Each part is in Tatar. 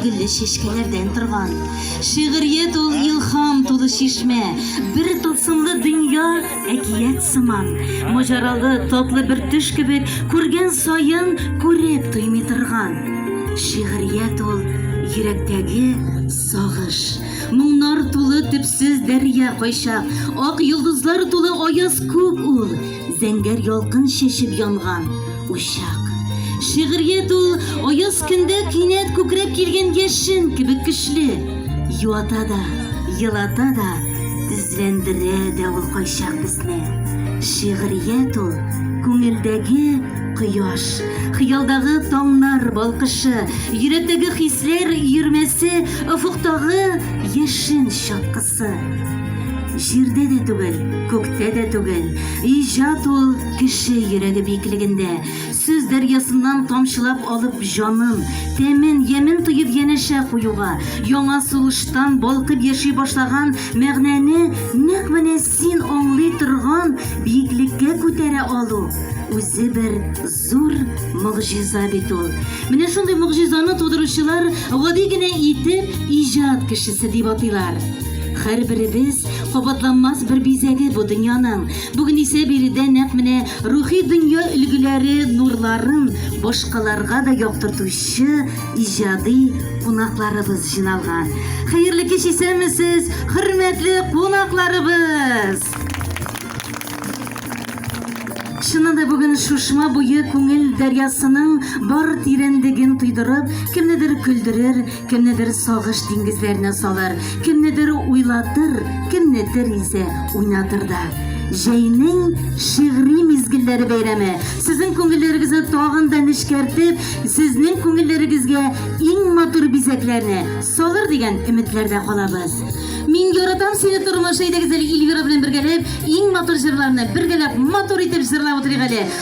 гөлле чәчкәләрдән торган шигърият ул илһам тулы чишмә бер тылсымлы дөнья Әкият сыман, маҗаралы, татлы бер төш кебек, күргән саен күреп туймый торган. Шигърият ул йөрәктәге сагыш. Моңнар тулы төпсез дәрья кайчак, ак йолдызлар тулы аяз күк ул, зәңгәр ялкын чәчеп янган учак. Шигърият ул аяз көндә кинәт күкрәп килгән яшен кебек көчле. Юата да, елата да, Сөйләндерә дә ул кайчак безне. Шигърият ул, күңелдәге кояш, хыялдагы таңнар балкышы, йөрәктәге хисләр йөрмәсе, офыктагы яшен чаткысы. Җирдә дә түгел, күктә дә түгел, иҗат ул кеше йөрәге биеклегендә. Сүз дәрьясыннан тамчылап алып җанын, тәмен, ямен тоеп янәшә куюга, яңа сулыштан балкып яши башлаган мәгънәне нәкъ менә син аңлый торган биеклеккә күтәрә алу, үзе бер зур могҗиза бит ул. Менә шундый могҗизаны тудыручылар гади генә итеп иҗат кешесе дип атыйлар. Һәрберебез кабатланмас бер бизәге бу дөньяның. Бүген исә биредә нәкъ менә рухи дөнья өлгеләре нурларын башкаларга да яктыртучы иҗади кунакларыбыз җыйналган. Хәерле кич исәнмесез, хөрмәтле кунакларыбыз! Чыннан да бүген шушма буе күңел дәрьясының бар тирәнлеген тойдырып, кемнедер көлдерер, Кемнедер сагыш диңгезләренә салыр, кемнедер уйлатыр, кемнедер исә уйнатыр да. Җәйнең шигъри мизгелләре бәйрәме сезнең күңелләрегезне тагын да нечкәртеп, сезнең күңелләрегезгә иң матур бизәкләрне салыр дигән өметләрдә калабыз. Мин яратам сине тормыш әйдәгез әле Ильвира белән бергәләп иң матур җырларны бергәләп матур итеп җырлап утырыйк әле.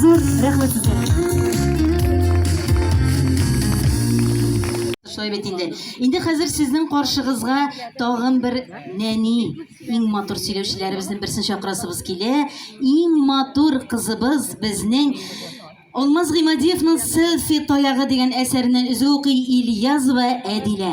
Зур рәхмәт Шулай бит инде. Инде хәзер сезнең каршыгызга тагын бер нәни, иң матур сөйләүчеләребезнең берсен чакырасыбыз килә. Иң матур кызыбыз безнең Алмаз Гыймадиевның селфи таягы дигән әсәреннән өзү укый Ильязова Әдилә.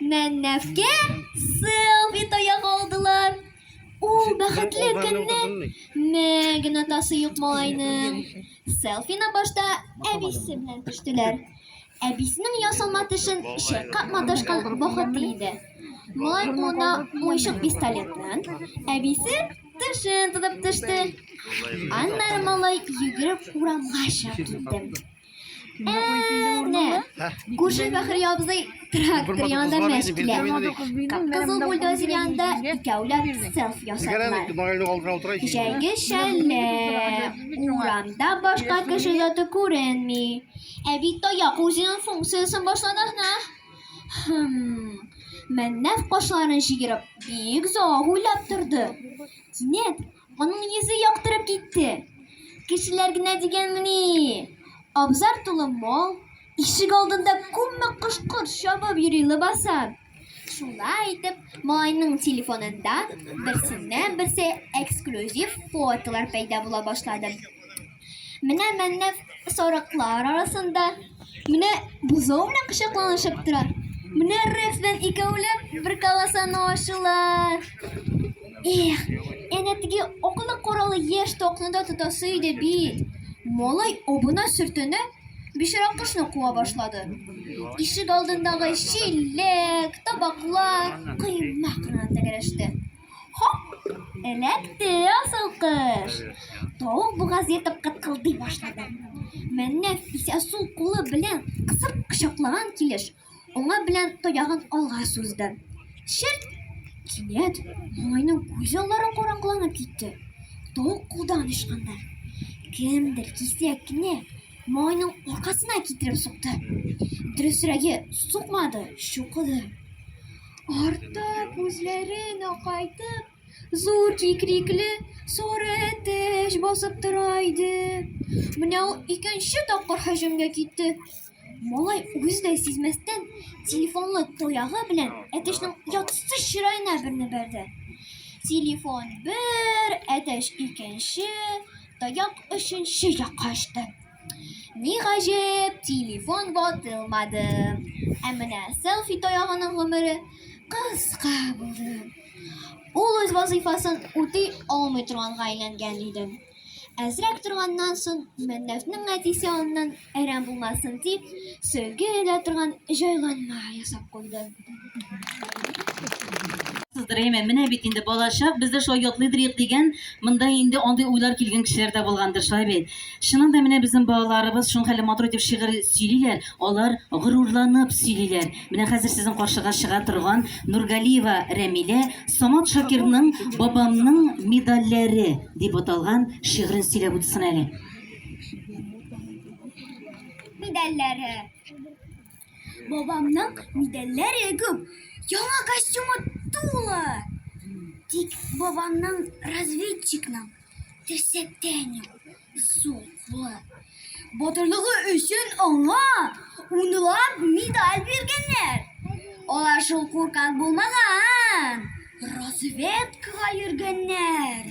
Мәннәфкә селфи таяк алдылар. Ул бәхетле көнне мә генә тасы юк малайның. Селфина башта әбисе белән төштеләр. Әбисенең ясалма тешен чайкап маташкан бахыты иде. Малай кулына уйшык пистолетнан әбисе тешен тотып төште. Аннары малай йөгереп урамга чыгып китте. Әнә, күрше Бәхри абзый трактор янында мәш килә. Кызыл бульдозер янында икәүләп селф ясадылар. Җәйге шәллә, урамда башка кеше заты күренми. Ә бит таяк үзенең функциясен башлады гына. Мәннәф кашларын җигереп, бик зоак уйлап торды. Кинәт Аның йөзе яктырып китте. Кешеләр генә дигәнмени. Абзар тулы мал, ишек алдында күпме кош-корт чабып йөри лыбаса. Шулай итеп, малайның телефонында берсеннән-берсе эксклюзив фотолар пәйда була башлады. Менә мәннәф сарыклар арасында, менә бозау белән кочакланышып тора. Менә Рекс белән икәүләп бер колосаны ашылар. Эх, әнә теге акылы коралы яшь токны да тотасы иде бит. Малай обына сөртенә, бишара кошны куа башлады. Ишек алдындагы чиләк, табаклар, коймак кына тәгәрәште. Эләкте асыл кыш. Тавык бугаз ятып кыткылдый башлады. Мәннән исә сул кулы белән кысып кочаклаган килеш, уңа белән тоягын алга сузды. Шерт! Кинәт малайның күз аллары караңгыланып китте. Тавык кулдан ычкынды. Кемдер кисәк кенә малайның аркасына китереп сукты. Дөресрәге, сукмады, чукыды. Артта күзләрен акайтып, зур кикрикле сары әтәч басып тора иде. Менә ул икенче тапкыр һөҗүмгә китте. Малай үзе дә сизмәстән телефонлы тоягы белән әтәчнең ятсыз чыраена берне бәрде. Телефон бер, әтәч икенче, таяк өченче якка очты. Ни гаҗәп, телефон ватылмады. Ә менә селфи таягының гомере кыска булды. Ул үз вазыйфасын үти алмый торганга әйләнгән иде. Әзрәк торганнан соң Мәннәфнең әтисе аннан әрәм булмасын дип, сөлге элә торган җайланма ясап куйды. Әйме, менә бит инде балачак, без дә шулай ятлыйдырыйк дигән, монда инде андый уйлар килгән кешеләр дә булгандыр, шулай бит. Чыннан да менә безнең балаларыбыз шуның хәле матур итеп шигырь сөйлиләр, алар горурланып сөйлиләр. Менә хәзер сезнең каршыга чыга торган Нургалиева Рәмилә Самат Шакирның Бабамның медальләре дип аталган шигырен сөйләп үтсен әле. Медальләре Бабамның медальләре күп, яңа костюмы тулы. Тик бабамның разведчикның терсәктән юк, зур кулы. Батырлыгы өчен аңа унлап медаль биргәннәр. Алар шул куркак булмаган, разведкага йөргәннәр.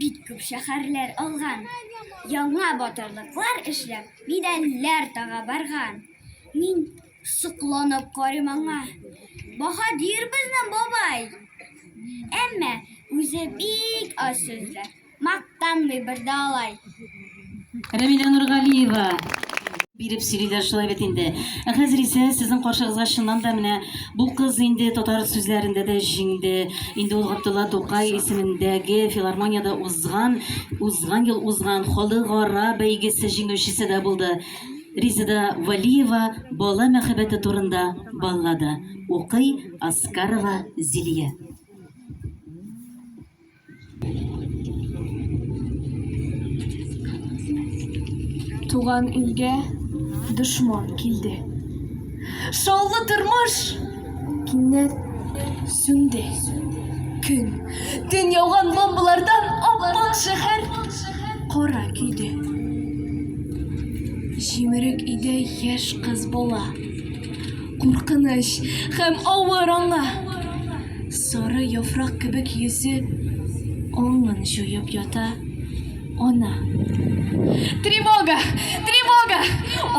Бик күп шәһәрләр алган, яңа батырлыклар эшләп, медальләр тага барган. Мин сокланып карыйм аңа. Баһадир безнең бабай. Әмма үзе бик аз сүзле, мактанмый бер дә алай. Рәмилә Нургалиева биреп сөйлиләр шулай бит инде. Ә хәзер исә сезнең каршыгызга чыннан да менә бу кыз инде татар сүзләрендә дә җиңде. Инде ул Габдулла Тукай исемендәге филармониядә узган, узган ел узган халыкара бәйгесе җиңүчесе дә булды. Ризада Валиева бала мәхәббәте турында баллада укый Аскарова Зилия. Туган илгә дошман килде. Шаулы тормыш кинәт сүнде. Көн, төн яуган бомбалардан ап-ак шәһәр кара көйде. Җимерек өйдә яшь кыз бала. Куркыныч һәм авыр аңа. Сары яфрак кебек йөзе Аңын җуеп ята ана. Тревога! Тревога!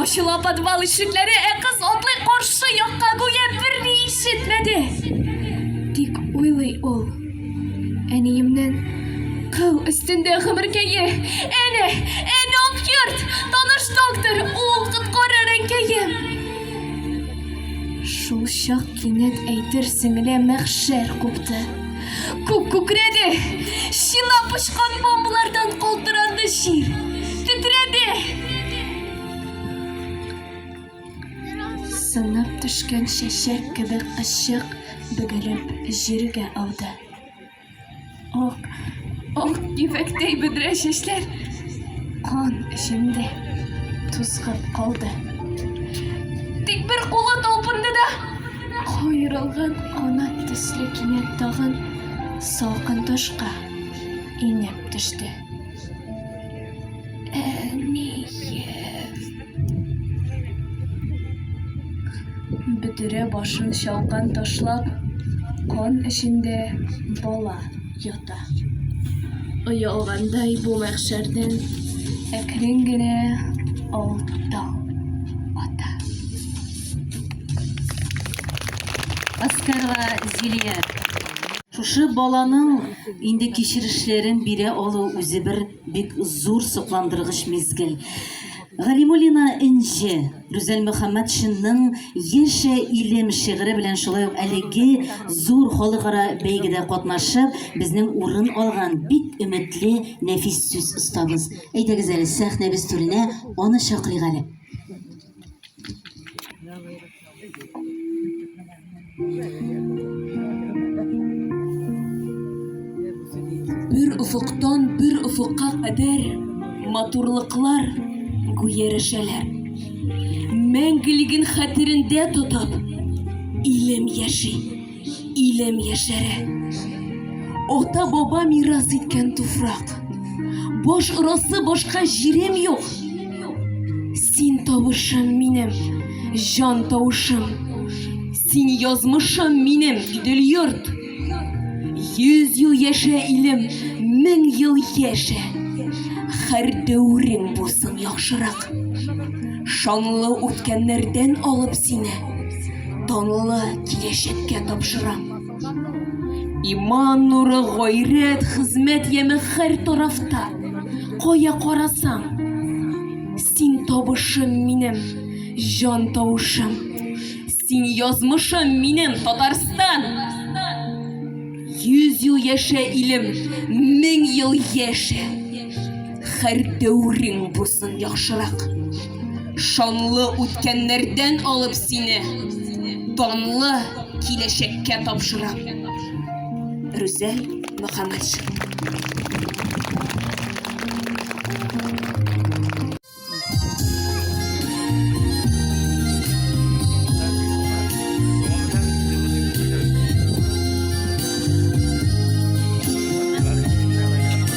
Ачыла подвал ишекләре, ә кыз атлый каршы якка, гүя берни ишетмәде. Тик уйлый ул. Әниемнен кыл өстендә гомеркәе, әне, әне ак йорт, таныш доктор, ул коткарыр әнкәем. Шул чак кинәт әйтер сеңле мәхшәр купты. Күк күкрәде, шина пошкан бомбалардан калтыранды җир, тетрәде. Сынып төшкән чәчәк кебек кызчык бөгелеп җиргә ауды. Ак, ак ефәктәй бөдрә чәчләр кан эчендә тузгып калды. Тик бер кулы талпынды да, каерылган канат төсле кинәт тагын салкын ташка инеп төште. Әнием! Бөтерә башын чалкан ташлап, кан эчендә бала ята. Оялгандай бу мәхшәрдән әкрен генә алтау ата. Аскарга Зилия. Шушы баланың инде кичерешләрен бирә алу үзе бер Бик зур сокландыргыч мизгел. Галимуллина Энҗе Рүзәл Мөхәммәтшинның Яшә илем шигыре белән шулай ук әлеге зур халыкара бәйгедә катнашып, безнең урын алган бик өметле нәфис сүз остабыз. Әйдәгез әле сәхнәбез түренә аны чакырыйк әле. Бер офыктан бер офыкка кадәр матурлыклар гүярәшәләр. Мәңгелеген хәтерендә тотып, илем яши. Илем яшәре. Ата баба мирас иткән туфрак. Баш орасы башка җирем юк. Син тавышым минем, җан тавышым. Син язмышым минем, идел йорт. Йөз ел яшә илем, мең ел яшә. Хәр дәүрең булсын яхшырак. Шанлы үткәннәрдән алып сине. Данлы киләчәккә тапшырам. Иман нуры, гайрәт, хезмәт яме һәр тарафта. Кая карасаң, син табышым минем, җан тавышым. Син язмышым минем, Татарстан. Йөз ел яшә илем, мең ел яшә. Һәр дәүрең булсын яхшырак. Шанлы үткәннәрдән алып сине данлы киләчәккә тапшырам. Рүзәл Мөхәммәтшин.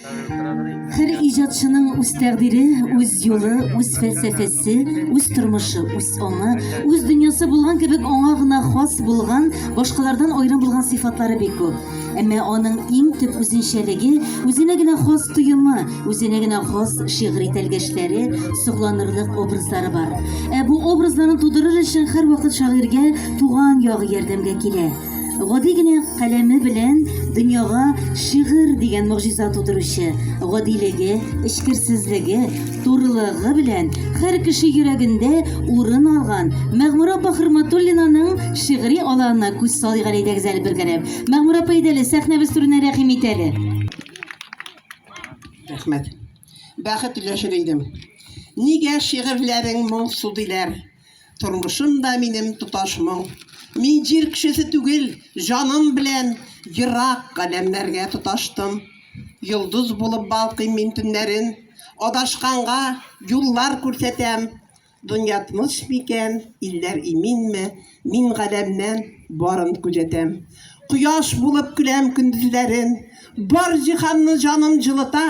Һәр иҗатчының үз тәкъдире, үз юлы, үз фәлсәфәсе, үз тормышы, үз аңы, үз дөньясы булган кебек аңа гына хас булган, башкалардан аерым булган сыйфатлары бик күп. Әмма аның иң төп үзенчәлеге, үзенә генә хас тоемы, үзенә генә хас шигъри тәлгәшләре, сокланырлык образлары бар. Ә бу образларны тудырыр өчен һәрвакыт шагыйрьгә туган ягы ярдәмгә килә. Гади генә каләме белән дөньяга шигырь дигән могҗиза тудыручы, гадилеге, эчкерсезлеге, турылыгы белән һәр кеше йөрәгендә урын алган Мәгъмүрә апа Хөрматуллинаның шигъри аланына күз салыйк әле, әйдәгез әле бергәләп. Мәгъмүрә апа, әйдә әле, сәхнәбез түренә рәхим ит әле. Рәхмәт. Бәхет өләшер идем. Нигә шигырьләрең моңсу диләр? Тормышым да минем тоташ моң. Мин җир кешесе түгел, җаным белән ерак галәмнәргә тоташтым. Йолдыз булып балкыйм мин төннәрен, адашканга юллар күрсәтәм. Дөнья тыныч микән, илләр иминме, мин галәмнән барын күзәтәм. Кояш булып көләм көндезләрен, бар җиһанны җаным җылыта.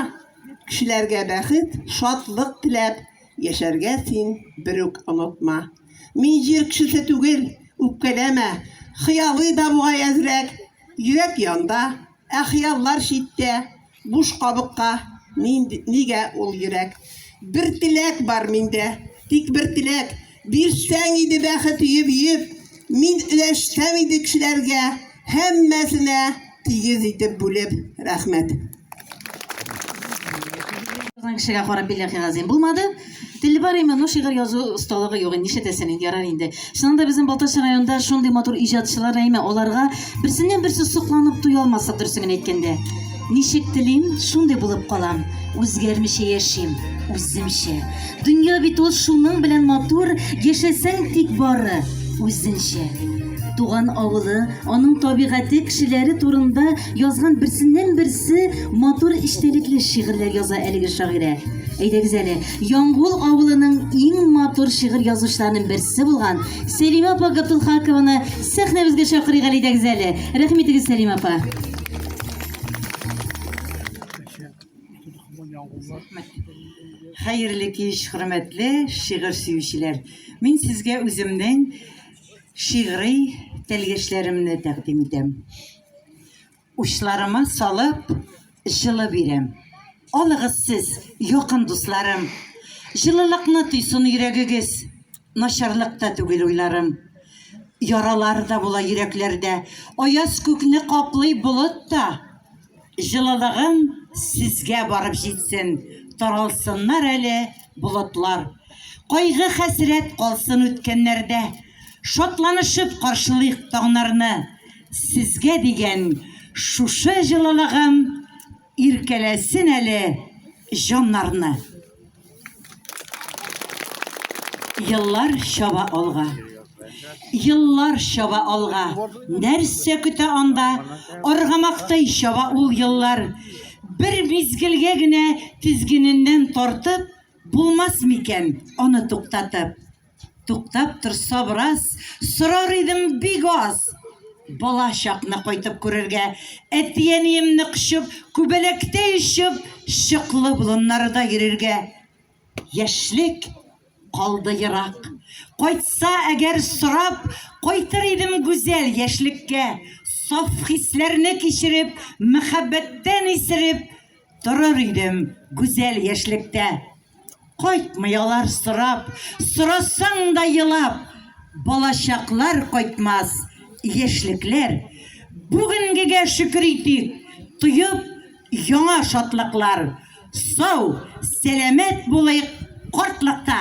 Кешеләргә бәхет, шатлык теләп, Яшәргә син бер үк онытма. Мин җир кешесе түгел, үпкәләмә. Хыялый да бугай әзрәк. Йөрәк янда, ә хыяллар читтә, буш кабыкка. Нигә ул йөрәк? Бер теләк бар миндә, тик бер теләк. Бирсәң иде бәхет өеп-өеп. Мин өләшсәм иде кешеләргә, һәммәсенә тигез итеп бүлеп, рәхмәт. Язган кешегә карап билләхи газим булмады. Теле бар име, ну шигырь язу осталыгы юк. Нишләтәсен инде, ярар инде. Чыннан да безнең Балтач районында шундый матур иҗатчылар әйме, аларга берсеннән-берсе сокланып туя алмассың, дөресен генә әйткәндә. Ничек телим, шундый булып калам, үзгәрмичә яшим, үземчә. Дөнья бит ул шуның белән матур, яшәсәң тик бары үзенчә. Туган авылы, аның табигате, кешеләре турында язган берсеннән-берсе матур эчтәлекле шигырьләр яза әлеге шагыйрә. Әйдәгез әле, Яңгул авылының иң матур шигырь язучыларының берсе булган Сәлимә апа Габдулхакованы сәхнәбезгә чакырыйк әле, әйдәгез әле. Рәхим итегез, Сәлимә апа. Хәерле кич, хөрмәтле шигырь сөючеләр. Мин сезгә үземнең шигъри тәлгәшләремне тәкъдим итәм. Учларыма салып, җылы бирәм. Алыгыз сез, якын дусларым. Җылылыкны тойсын йөрәгегез. Начарлык та түгел уйларым. Яралар да була йөрәкләрдә. Аяз күкне каплый болыт та. Җылылыгым сезгә барып җитсен, Таралсыннар әле болытлар. Кайгы-хәсрәт калсын үткәннәрдә. Шатланышып каршылыйк таңнарны. Сезгә дигән шушы җылылыгым. Иркәләсен әле җаннарны. Еллар чаба алга. Еллар чаба алга. Нәрсә көтә анда? Аргамактай чаба ул еллар. Бер мизгелгә генә тизгененнән тартып, булмас микән аны туктатып? Туктап торса бераз, сорар идем бик аз. Бала чакны кайтып күрергә, әти-әниемне кочып, күбәләктә ишеп, чыклы болыннарда йөрергә. Яшьлек калды ерак. Кайтса әгәр сорап, кайтыр идем гүзәл яшьлеккә. Саф хисләрне кичереп, мәхәббәттән исереп, Торыр идем гүзәл яшьлектә. Кайтмый алар сорап, сорасаң да елап. Балачаклар кайтмас, яшьлекләр. Бүгенгегә шөкер итик, тоеп яңа шатлыклар. Сау, сәламәт булыйк картлыкта.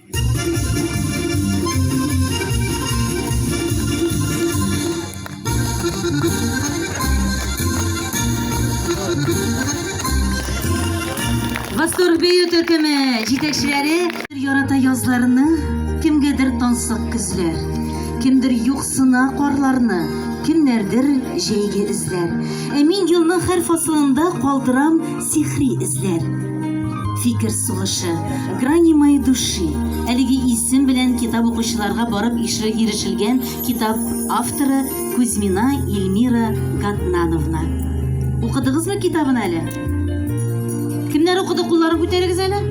Сорбею төркеме җитәкчеләре ярата язларны, кемгәдер тансык көзләр, кемдер юксына карларны, кемнәрдер җәйге эзләр. Ә мин елның һәр фасылында калдырам Сихри эзләр. Фикер сугышы. Грани моей души. Әлеге исем белән китап укучыларга барып ирешелгән китап авторы Кузьмина Ильмира Гатнановна. Укыдыгызмы китабын әле? Кемнәр укыды, кулларын күтәрегез әле.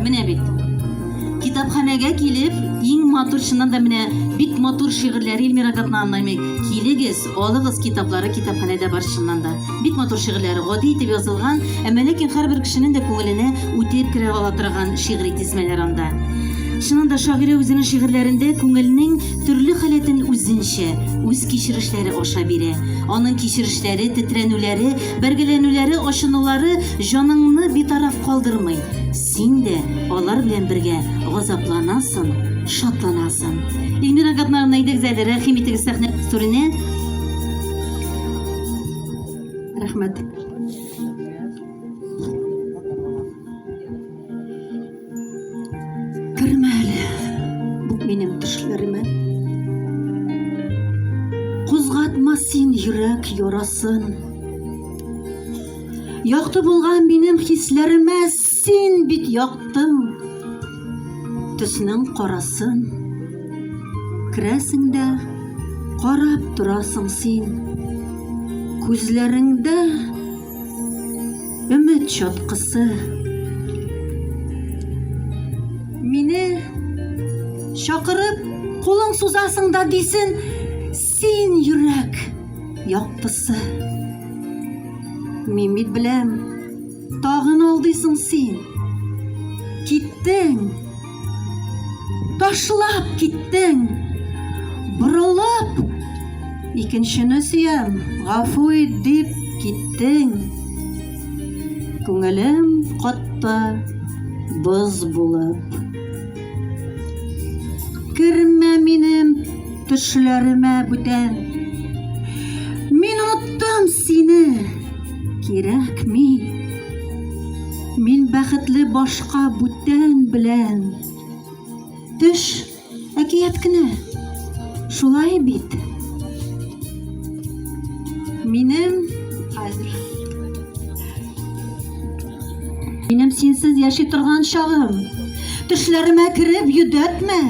Менә бит. Китапханәгә килеп, иң матур чыннан да менә бик матур шигырьләр Ильмира Гатнановна, килегез. Алыгыз китаплары китапханәдә бар чыннан да. Бик матур шигырьләр, гади итеп язылган, әмма ләкин һәрбер кешенең дә күңеленә үтеп керә ала торган шигъри тизмәләр анда. Чыннан да шагыйрә үзенең шигырьләрендә күңелнең төрле халәтен үзенчә, үз кичерешләре аша бирә. Аның кичерешләре, тетрәнүләре, бәргәләнүләре, ачынулары җаныңны битараф калдырмый. Син дә алар белән бергә газапланасың, шатланасың. Эльмира Габнарна идегез әле, рәхим итегез сәхнә түренә. Рәхмәт. Кермә әле, бу минем төшләремә. Кузгатма син йөрәк ярасын. Якты булган минем хисләремә син бит яктың. Төснең карасын. Керәсең дә карап торасың син. Күзләреңдә өмет чаткысы. Мине чакырып кулың сузасың да дисен, Син йөрәк яктысы. Мин бит беләм, тагын алдыйсың син. Киттең. Ташлап киттең. Борылып икенчене сөям, гафу ит дип киттең. Күңелем катты боз булып. Кермә минем Төшләремә бүтән Мин оттым сине Кирәкми Мин бәхетле башка бүтән белән Төш әкият кенә Шулай бит Минем хәзер Минем синсез яши торган чагым. Төшләремә кереп йөдәтмә.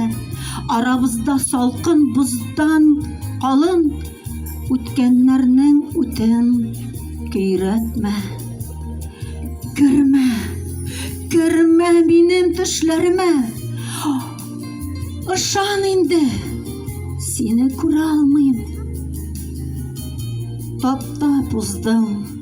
Арабызда салкын боздан калын үткәннәрнең үтен көйрәтмә. Кермә. Кермә минем төшләремә. Ышан инде. Сине күрә алмыйм. Таптап уздым.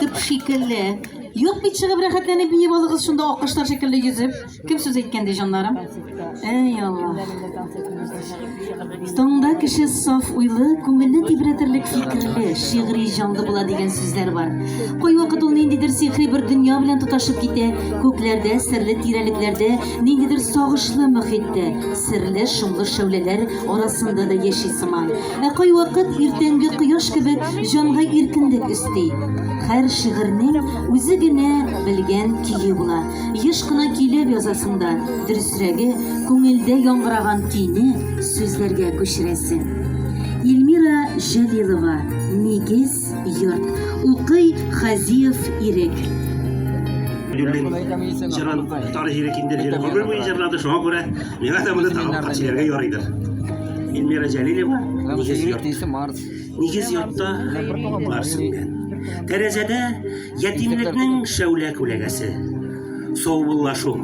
Тып шикелле. Юк бит чыгып рәхәтләнеп биеп алыгыз шунда аккошлар шикелле йөзеп. Кем сүз әйткән ди җаннарым? Әй Аллаһ. Таңда кеше саф уйлы, күңелне тибрәтерлек фикерле, шигъри җанлы була дигән сүзләр бар. Кайвакыт ул ниндидер сихри бер дөнья белән тоташып китә, күкләрдә, серле тирәлекләрдә, ниндидер сагышлы мөхиттә, серле шомлы шәүләләр арасында да яши сыман. Ә кайвакыт иртәнге кояш кебек җанга иркенлек өсти. Һәр шигырьнең үзе генә белгән көе була. Еш кына көйләп язасың да, дөресрәге, күңелдә яңгыраган көйне сүзләргә күчерәсең. Ильмира Җәлилова, Нигез, йорт. Укый Хазиев Ирек. Белмим, җырын Тарҗирек инде җырын гомер буе җырлады, шуңа күрә миңа да моны тагын бер кат сөйләргә ярыйдыр. Эльмира Җәлилева нигез йорт. Марс. Нигез йортта Марс иткән. Тәрәзәдә ятимлекнең шәүлә күләгәсе. Саубуллашу.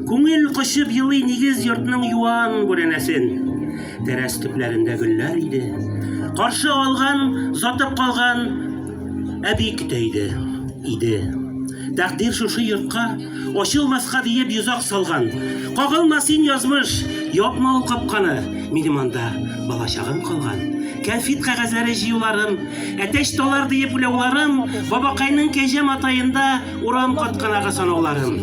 Күңел кочып елый нигез йортның юан бүрәнәсен. Тәрәз төпләрендә гөлләр иде. Каршы алган, затып калган әби көтә иде. Иде. Тәкъдир шушы йортка Ачылмаска диеп йозак салган. Кагылма син язмыш, япма ул капканы. Минем анда балачагым калган. Кәнфит кәгазьләре җыюларым, әтәч талар диеп уйлауларым, бабакайның кәҗә матаенда урам катканага санауларым.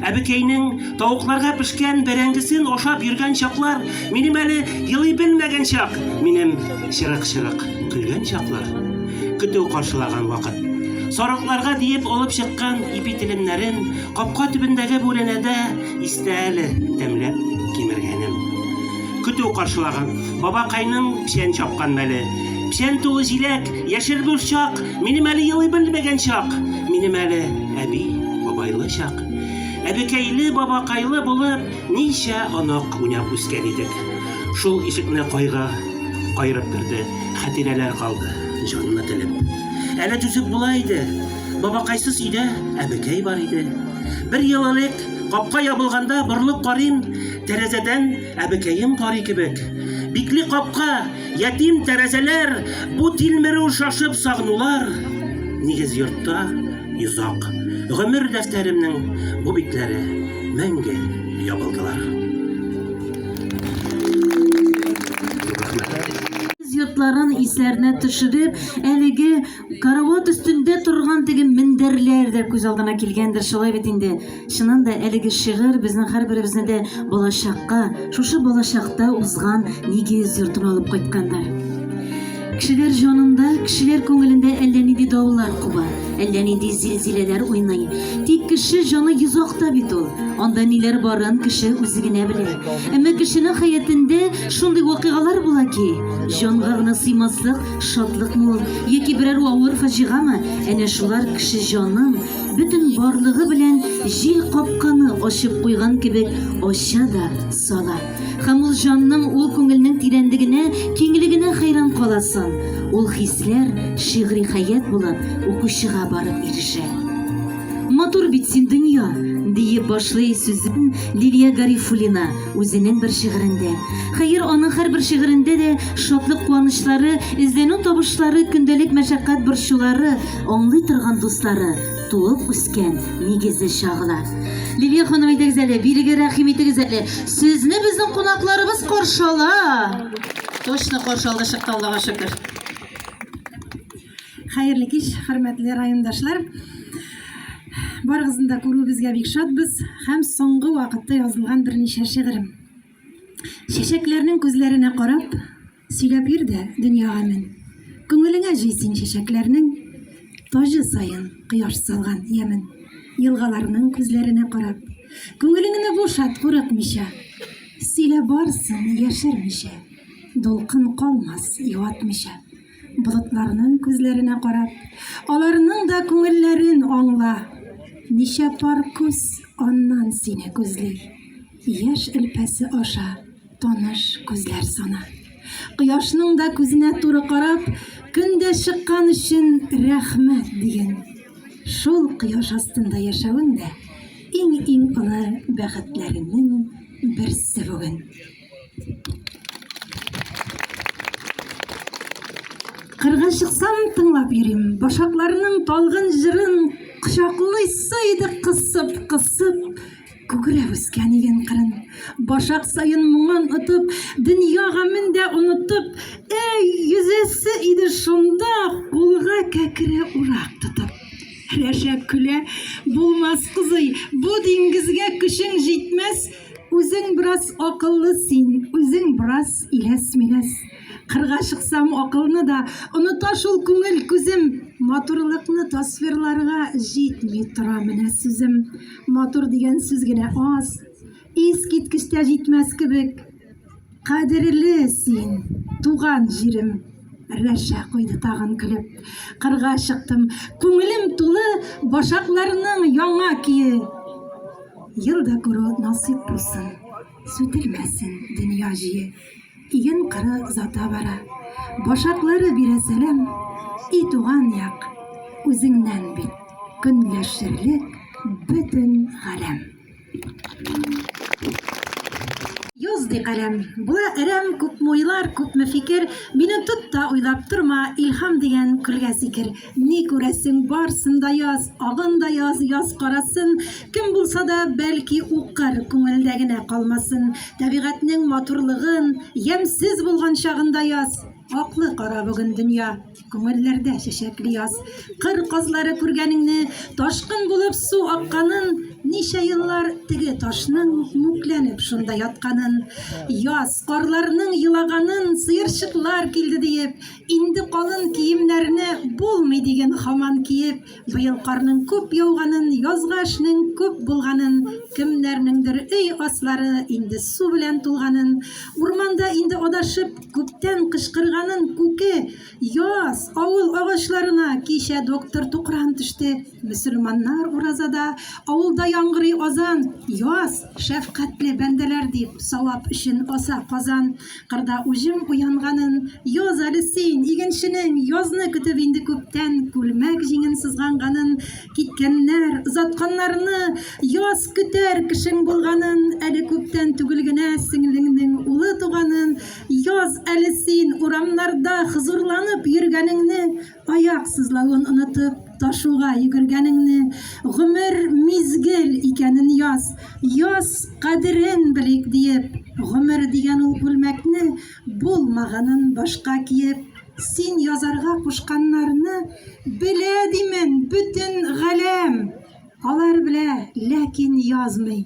Әбекәйнең тавыкларга пешкән бәрәңгесен ашап йөргән чаклар Минем әле елый белмәгән чак, минем чырык-чырык көлгән чаклар. Көтү каршылаган вакыт. Сарыкларга диеп алып чыккан ипи телемнәрен капка төбендәге бүрәнәдә истә әле тәмләп кимергәнем. Көтү каршылаган бабакайның печән чапкан мәле. Печән тулы җиләк, яшел борчак, минем әле елый белмәгән чак, минем әле әби бабайлы чак. Әбекәйле бабакайлы булып, Ничә онык уйнап үскән идек. Шул ишекне кайгы каерып керде. Хәтирәләр калды, җанны телеп. Әле түзеп була иде. Бабакайсыз өйдә әбекәй бар иде. Бер ел элек, капка ябылганда, борылып карыйм, тәрәзәдән әбекәем карый кебек. Бикле капка, ятим тәрәзәләр, бу тилмерү, шашып сагынулар. Нигез йортта. Йозак. Гомер дәфтәремнең бу битләре мәңге ябылдылар. Йортларын исләренә төшереп, әлеге карават өстендә торган теге мендәрләр дә күз алдына килгәндер, шулай бит инде. Чыннан да әлеге шигырь безнең һәрберебезне дә балачакка, шушы балачакта узган нигез йортына алып кайтканнар. Кешеләр җанында, кешеләр күңелендә әллә нинди даулар куба, әллә нинди зилзиләләр уйный. Тик кеше җаны йозакта бит ул. Анда ниләр барын кеше үзе генә белә. Әмма кешенең хәятендә шундый вакыйгалар була ки, җанга гына сыймаслык шатлыкмы ул, яки берәр авыр фаҗигамы, әнә шулар кеше җанын бөтен барлыгы белән җил капканы ачып куйган кебек ача да сала. Һәм ул җанның, ул күңелнең тирәнлегенә, киңлегенә хәйран каласың. Ул хисләр шигъри хәят булып укучыга барып ирешә. Матур бит син дөнья, диеп башлый сүзен Лилия Гарифуллина үзенең бер шигырендә. Хәер, аның һәрбер шигырендә дә шатлык-куанычлары, эзләнү табышлары, көндәлек мәшәкать борчулары, Аңлый торган дуслары, туып үскән нигезе чагыла. Лилия ханым әйдәгез әле, бирегә рәхим итегез әле. Сезне безнең кунакларыбыз каршы ала. Точно каршы алды чыкты Аллага шөкер. Хәерле кич, хөрмәтле райондашлар. Барыгызны да күрүебезгә бик шатбыз һәм соңгы вакытта язылган берничә шигырем. Чәчәкләрнең күзләренә карап, Сөйләп йөр дә дөньяга мен. Күңелеңә җый син чәчәкләрнең Таҗы саен кояш салган ямен. Елгаларның күзләренә карап. Күңелеңне бушат курыкмыйча. Сөйлә барсын яшермичә. Дулкын калмас юатмыйча. Болытларның күзләренә карап. Аларның да күңелләрен аңла. Ничә пар күз аннан сине күзли. Яшь элпәсе аша. Таныш күзләр саны. Кояшның да күзенә туры карап, көндә чыккан өчен рәхмәт диген. Шул кояш астында яшәвең дә иң-иң олы бәхетләреңнең берсе бүген. Кырга чыксам тыңлап йөрим. Башакларның талгын җырын кочаклыйсы иде кысып-кысып. Күкрәп үскән иген кырын, башак саен моңын отып, дөнья гамен дә онытып, әй, йөзәсе иде шунда, кулга кәкре урак тотып. Рәшәк көлә, булмас кызый, бу диңгезгә көчең җитмәс, үзең бераз акыллы син, үзең бераз иләс-миләс. Кырга чыксам, акылны да оныта шул күңел күзем, матурлыкны тасвирларга җитми тора менә сүзем. Матур дигән сүз генә аз, искиткечтә җитмәс кебек. Кадерле син, туган җирем. Рәшә куйды тагын көлеп. Кырга чыктым. Күңелем тулы башакларның яңа кие. Ел да күрү насыйп булсын. Сүтелмәсен дөнья җие. Иген кыры озата бара. Башаклары бирә сәлам, и туган як, үзеңнән бит көнләшерлек бөтен галәм. Йоз ди каләм, була әрәм, күпме уйлар, күпме фикер, мине тот та уйлап торма, илһам дигән көлгә сикер. Ни күрәсең, барсын да яз, агын да яз, яз карасын. Кем булса да, бәлки, укыр, күңелдә генә калмасын. Табигатьнең матурлыгын, ямьсез булган чагында яз. Аклы кара бүген дөнья, күңелләрдә чәчәкле яз. Кыр казлары күргәнеңне, ташкын булып су акканын, ничә еллар теге ташның мүкләнеп шунда ятканын. Яз, карларның елаганын, сыерчыклар килде диеп, Инде калын киемнәрне булмый диген хаман киеп, быел карның күп яуганын, язга эшнең күп булганын, кемнәрнеңдер өй аслары инде су белән тулганын, урманда инде адашып күптән кычкырганын күке, яз, авыл агачларына кичә доктор Тукран төште, мөселманнар уразада, авылда яңгырый азан, яз, шәфкатьле бәндәләр дип, савап өчен аса казан. кырда уҗым уянганын яз әле син игенченең язны көтеп инде күптән күлмәк җиңен сызганганын киткәннәр озатканнарны яз көтәр кешең булганын әле күптән түгел генә сеңлеңнең улы туганын яз әле син урамнарда хозурланып йөргәнеңне Аяк сызлавын онытып, ташуга йөгергәнеңне, гомер мизгел икәнен яз, яз кадерен белик диеп, гомер дигән ул күлмәкне булмаганын башка киеп, син язарга кушканнарны белә димен бөтен галәм. Алар белә, ләкин язмый.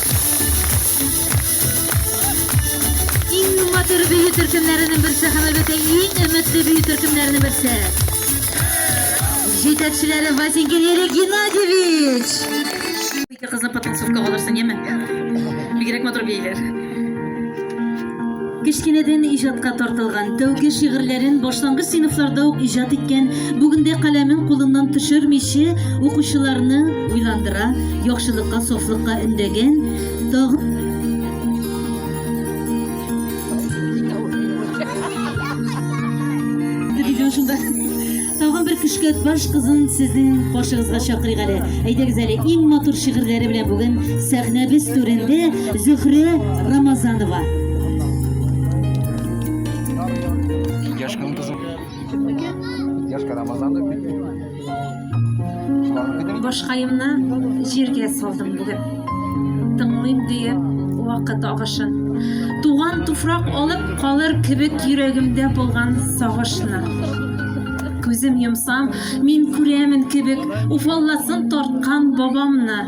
матур бию төркемнәренең берсе һәм әлбәттә иң өметле бию төркемнәренең берсе. Җитәкчеләре Василий Геннадьевич. Ике кызны потанцевка алырсың, яме? Бигрәк матур бийләр. Кечкенәдән иҗатка тартылган, тәүге шигырьләрен башлангыч сыйныфларда ук иҗат иткән, бүген дә каләмен кулыннан төшермичә, укучыларны уйландыра, яхшылыкка, сафлыкка өндәгән, тагын Диде шунда. Тагын бер көшкәт баш кызын сезнең каршыгызга чакырыйк әле. Әйдәгез әле, иң матур шигырьләре белән бүген сәхнәбез түрендә Зөһрә Рамазанова. Яшь кызым кызым. Яшь Рамазан дип. Башкаемны җиргә салдым бүген. Тыңлыйм диеп вакыт агышын. Туган туфрак алып калыр кебек йөрәгемдә булган сагышны. Күзем йомсам, мин күрәмен кебек, уфалласын тарткан бабамны.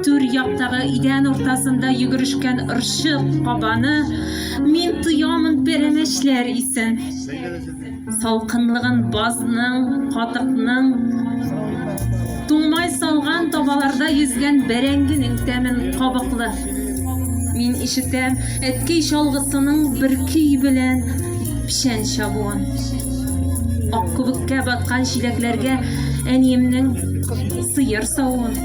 Түр яктагы идән уртасында йөгерешкән ырчык кабаны мин тоямын пәрәмәчләр исен. Салкынлыгын базның, катыкның, туңмай салган табаларда йөзгән бәрәңгенең тәмен кабыклы. Мин ишетәм әткәй чалгысының бер көй белән печән чабуын. Ак күбеккә баткан чиләкләргә әниемнең сыер савуын.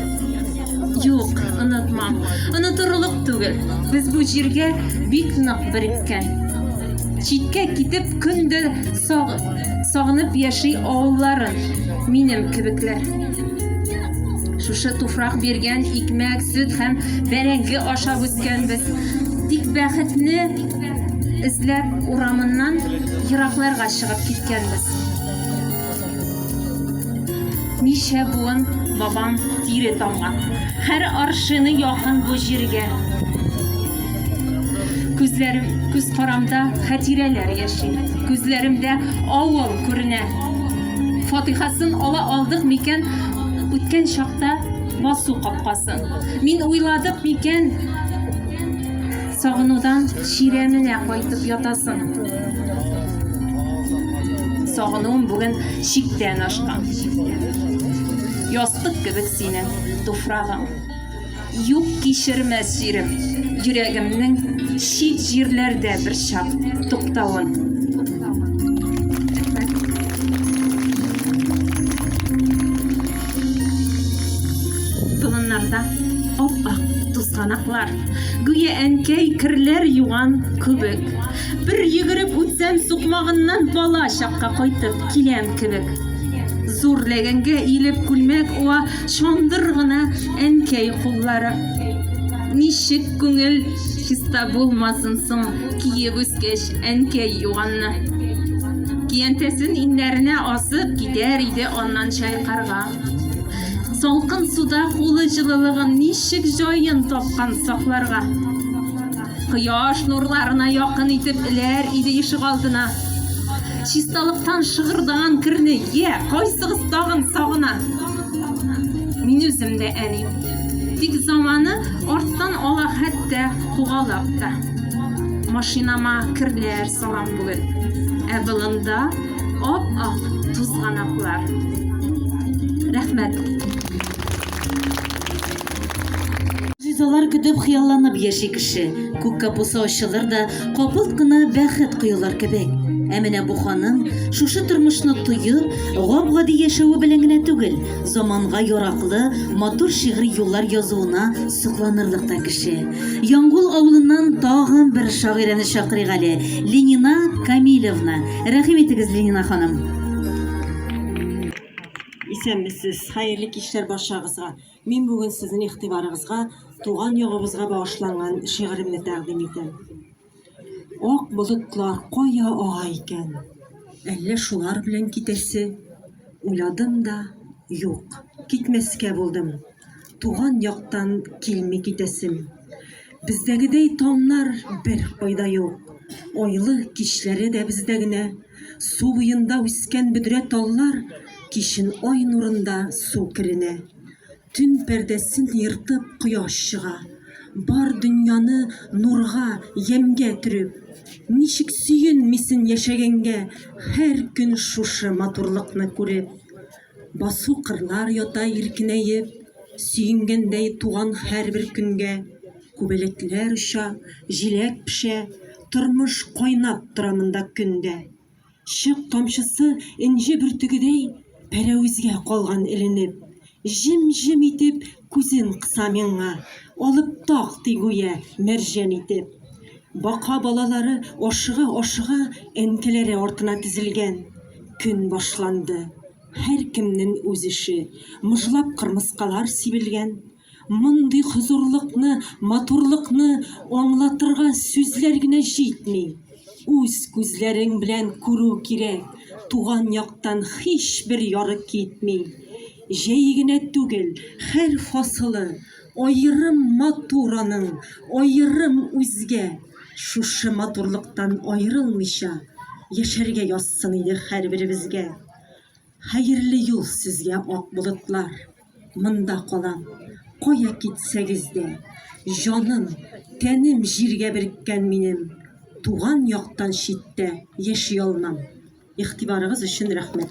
Юк, онытмам. Онытырлык түгел. Без бу җиргә бик нык береккән. Читкә китеп көн дә сагынып яши авылларын минем кебекләр. Шушы туфрак биргән икмәк, сөт һәм бәрәңге ашап үскәнбез. Тик бәхетне эзләп урамыннан еракларга чыгып киткәнбез. Ничә буын бабам тире тамган. Һәр аршыны якын бу җиргә. Күзләрем, күз карамда хәтирәләр яши. Күзләремдә авыл күренә. Фатихасын ала алдык микән үткән чакта басу капкасын? Мин уйладык микән сагынудан чирәменә кайтып ятасын? Сагынуым бүген чиктән ашкан. Ястык кебек синең туфрагың. Юк кичермәс җирем, йөрәгемнең чит җирләрдә бер чак туктавын. Болыннарда ап-ак тузганаклар, гүя әнкәй керләр юган күбек. Бер йөгереп үтсәм, сукмагыннан бала чакка кайтып киләм кебек. Зур ләгәнгә иелеп күлмәк уа, Шундыр гына әнкәй куллары. Ничек күңел чиста булмасын соң, киеп үскәч әнкәй юганны. Киянтәсен иннәренә асып китәр иде аннан чайкарга. Салкын суда кулы җылылыгын ничек җаен тапкан сакларга. Кояш нурларына якын итеп эләр иде ишек алдына. Чисталыктан шыгырдаган керне, я, кайсыгыз тагын сагына? Мин үзем дә әни. Тик заманы арттан ала хәтта кугалап та. Машинама керләр салам бүген. Ә болында ап-ак тузганаклар. Рәхмәт. Ризалар көтеп хыялланып яши кеше. Күк капусы ачылыр да, капылт кына бәхет коелыр кебек. Ә менә бу ханым шушы тормышны тоеп, гап-гади яшәве белән генә түгел, заманга яраклы, матур шигъри юллар язуына сокланырлык та кеше. Яңгул авылыннан тагын бер шагыйрәне чакырыйк әле, Ленина Камилевна. Рәхим итегез, Ленина ханым. Исәнмесез, хәерле кичләр барчагызга. Мин бүген сезнең игътибарыгызга туган ягыбызга багышланган шигыремне тәкъдим итәм. Ак болытлар кая ага икән? Әллә шулар белән китәсе? Уйладым да, юк, китмәскә булдым. Туган яктан килми китәсем. Бездәгедәй таңнар беркайда юк. Айлы кичләре дә бездә генә. Су буенда үскән бөдрә таллар кичен ай нурында су керенә. Төн пәрдәсен ертып кояш чыга. Бар дөньяны нурга, ямьгә төреп. Ничек сөенмисен яшәгәнгә, һәр көн шушы матурлыкны күреп. Басу кырлар ята иркенәеп, Сөенгәндәй туган һәрбер көнгә. Күбәләкләр оча, җиләк пешә, Тормыш кайнап тора монда көн дә. Чык камчысы энҗе бөртегедәй Пәрәвезгә калган эленеп. Җем-җем итеп Күзен кыса миңа, алып так, ди гүя, мәрҗән итеп. Бака балалары ашыга-ашыга әнкәләре артына тезелгән. Көн башланды. Һәркемнен үз эше. Мыжлап кырмыскалар сибелгән. Мондый хозурлыкны, матурлыкны аңлатырга сүзләр генә җитми. Үз күзләрең белән күрү кирәк, туган яктан һичбер ярык китми. Җәй генә түгел, хәл фасылы Аерым матур аның, аерым үзгә. Шушы матурлыктан аерылмыйча Яшәргә язсын иде һәрберебезгә. Хәерле юл сезгә, ак болытлар! Монда калам, кая китсәгез дә. Җаным, тәнем җиргә береккән минем, Туган яктан читтә яши алмам. Игътибарыгыз өчен рәхмәт.